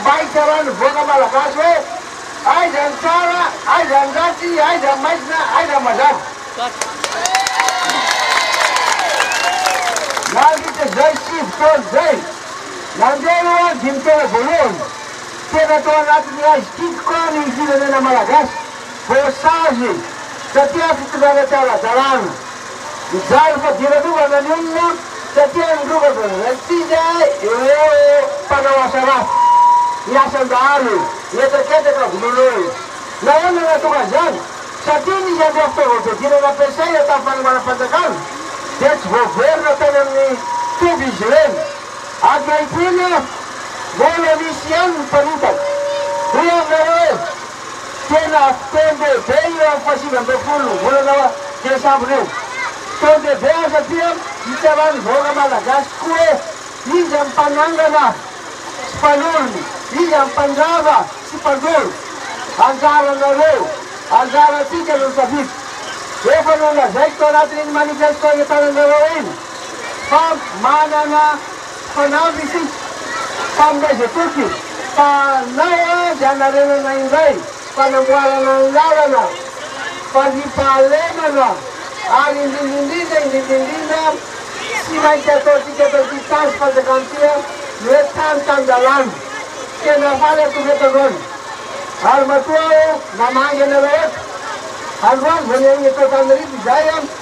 Mba hitsaran'ny vahoaka malagasy hoe aiza ny tsara, aiza ny ratsy, aiza ny maizina, aiza ny mazava. Nandritra izay sivy taona izay, nandeha io an dimy taona voalohany, tena tao anatin'ny aizy ity tokoa ny firenena malagasy, voasazy taty amin'ny fitondrana tsy ara-dalàna. Mijaly fadiran'omby hanany olona satria nirova vao niraikitra izy ay! Ireo mpanao asa ratsy, ny asan-dahalo mihetraketraka vonoin'olona. Nahoana no nahatonga izany? Satria nisy an'ireo fitaovam-piadiana nampiasaina tamin'ny fanombanam-panjakana dia tsy voaverina tany amin'ny toby izy ireny. Ankehitriny mbola misy ihany ny mpanitaka. Hoy aminareo hoe. Tena fotoan-dehibe io amin'ny fahasivy amby roapolo volana desambra io. Fotoan-dehibe ary satria hitsaran'ny vahoaka malagasy tokoa hoe iza ny mpanangana sy mpanorina, iza ny mpandrava sy mpandoro. Anjaranareo, anjarantsika no misafidy. Efa nolazaiko tao anatin'iny manifesto itananareo iny fa manana. Mpanavy isika, mpaminaiza toky, fa nao azy hanarenana indray fanamboarana ny lalana, fandriampahalemana, ary indrindra indrindra, indrindra indrindra, tsy maintsy ataontsika eto amin'ity Tanjy fanjakana ity ny hoe tany tan-dalàna. Tena faly aho tokoa eto androany, ary matoa aho namangy anareo eto androany vao nihaino ny feon'Antananarivo izahay.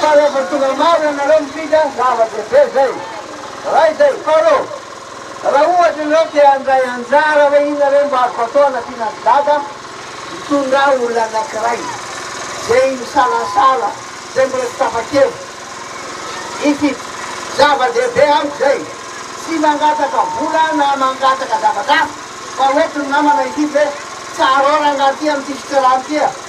Fa rehefa tonga maro ianareo mifidy an, zava-dehibe izay. Raha izay. Faharoa, raha ohatra ianareo te handray anjara hoe inona re mba azoko atao hanampiana an'i Dada, mitondrà olona anankiray izay misalasala, izay mbola tsy tapa-kevitra. Ity. Zava-dehibe amiko izay. Tsy mangataka vola na mangataka zavatra hafa, fa hoentiny namana hifidy hoe, tsara ao rangahy ity amin'ity fitoerana ity a.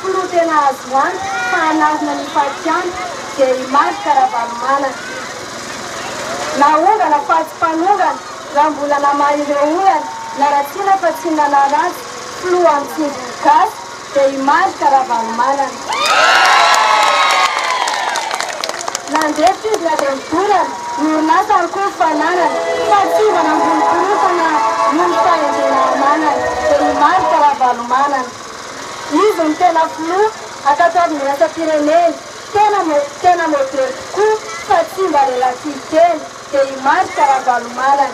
Filohantena azo antoka fa hanarina ny fatiantoka dia i Marc Ravalomanana. Naongana fa tsy mpanongana raha mbola namaha ireo olana na raha tiana fa tsy nanaratsy filoha amin'ny tsindrin'ny gasy dia i Marc Ravalomanana. Nandresy izy na dia nidorana ny orinasa ary koa ny fananany fa tsy iza nambony korontana noho ny fahendrena ananany dia i Marc Ravalomanana. Izy no tena filoha ankatoavin'ny iraisam-pirenena, tena tena modely tokoa fa tsy mba lelatsihy kely, dia i Marc Ravalomanana.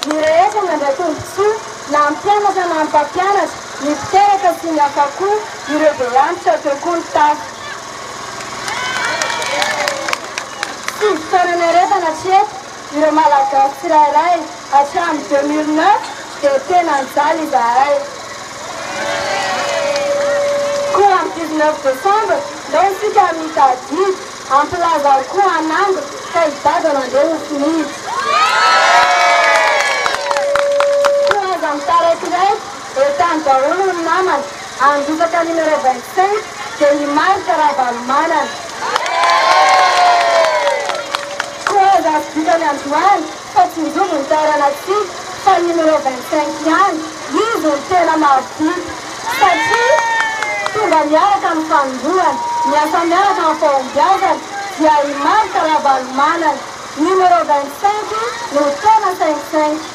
Ny rehetra nandray tombontsoa, na ny mpianatra na ny mpampianatra, ny mpiteraka sy ny hafa koa, ireo be antitra teo koa ny tafika. Tsy ivotoanan'ny harefana hatreto. Ireo Malagasy tsirairay hatramin'ny deux mille neuf dia tena nijaly izahay. Koa amin'ny dix neuf décembre ndao isika mitady didy hampilaza ao koa an'Ambo fa i Dada nandeha ho finidy. Koa aza mitaraikiraika e tany daholo ny namana, handrotsaka numéro vingt cinq dia i Marc Ravalomanana. Koa aza azo vitany androany fa tsy njobo ny taranak'tsika fa numéro vingt cinq ihany izy no tena mahavita satria tonga miaraka ny fanombohana, miasa miaraka amin'ny fahombiazana dia i Marc Ravalomanana numéro vingt cinq no tena cinq cinq.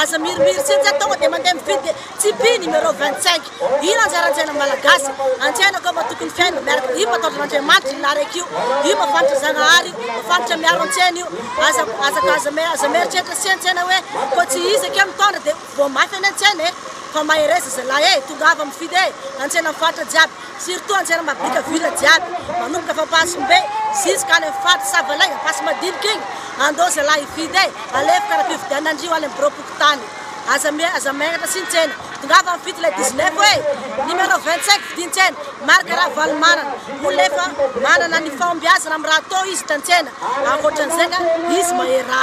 Aza mirimiritsy eny za tonga de mandeha mividy Tipeee numéro 25 Io no anjara antsaina malagasy Antsaina kôfa tokony fiaina miaraka Io mataotra Andriamanitra io narek io Io mafantatra Zagnahary io mafantatra miaro antsaina io Aza aza aza aza mieritreritra sy antsaina hoe kô tsy izy akeo mitondra de voamafy any antsaina e Fa mahereza zalahy e tongava mividy e Antsaina faritra jiaby Surtout anjera mabika villa jiaby manomboka fa ampasombe jusque any am faritra savalay ampasimadinika iny andao zalahy hividy e alefoka raha fividianana ndry ho any am birao pokontany aza mi aza miangatra sy ny tsena tongava mividy ilay dix neuf hoe numéro vingt cinq vidin tsena marque ravalomanana olona efa manana ny fahombiazana am raha atao izy hitan tsena ankoatran'izay ka izy maherà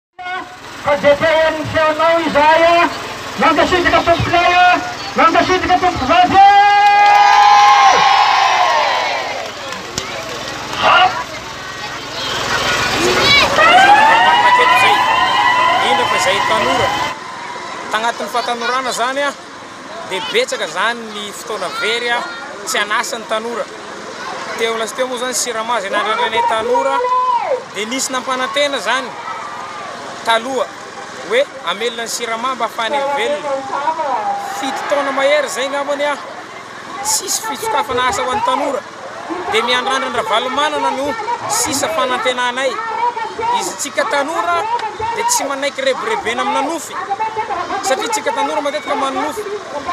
Fa dia te hahay ny feonao izahay a! Mankasitraka tompokolahy a! Mankasitraka tompokovavy a! Indrindra fa izay tanora tagnatin'ny fahatanorana zany a. dia betsaka izany ny fotoana very tsy an'asa ny tanora. Teo lasteo moa izany Sirama izay nandrandrainay tanora dia nisy nampanantena izany taloha hoe amelona ny Sirama mba hafahany velona. Fito taona mahery izay ngambany aho tsisy fitsokafana asa ho an'ny tanora. dia ny andrandran-dRavalomanana no sisa fanantenanay. Izy tsika tanora dia tsy manaiky rebirebena amina nofy satria tsika tanora matetika manonofy.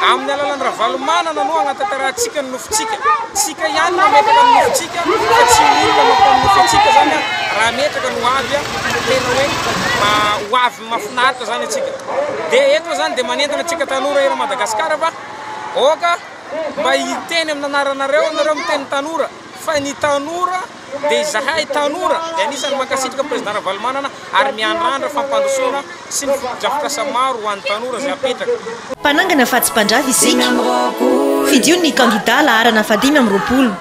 Amin'ny alalan'i Ravalomanana no anatantarahantsika ny nofintsika. Tsika ihany no ametraka ny nofintsika fa tsy olona mampanonofy antsika zany raha ametraka ny ho avy fa tena hoe ho avy mafinaritra zany antsika. Dia eto zany dia manentana antsika tanora eran Madagasikara fa aoka mba hiteny amin'ny anaranareo nareo miteny tanora fa ny tanora dia izahay tanora dia anisany mankasitraka président Ravalomanana ary miandrandra fampandrosoana sy ny fotodrafitrasa maro ho an'ny tanora izay apetraka. Mpanangana fa tsy mpandrava isika. Fidio ny kandida laharana fahadimy amby roapolo.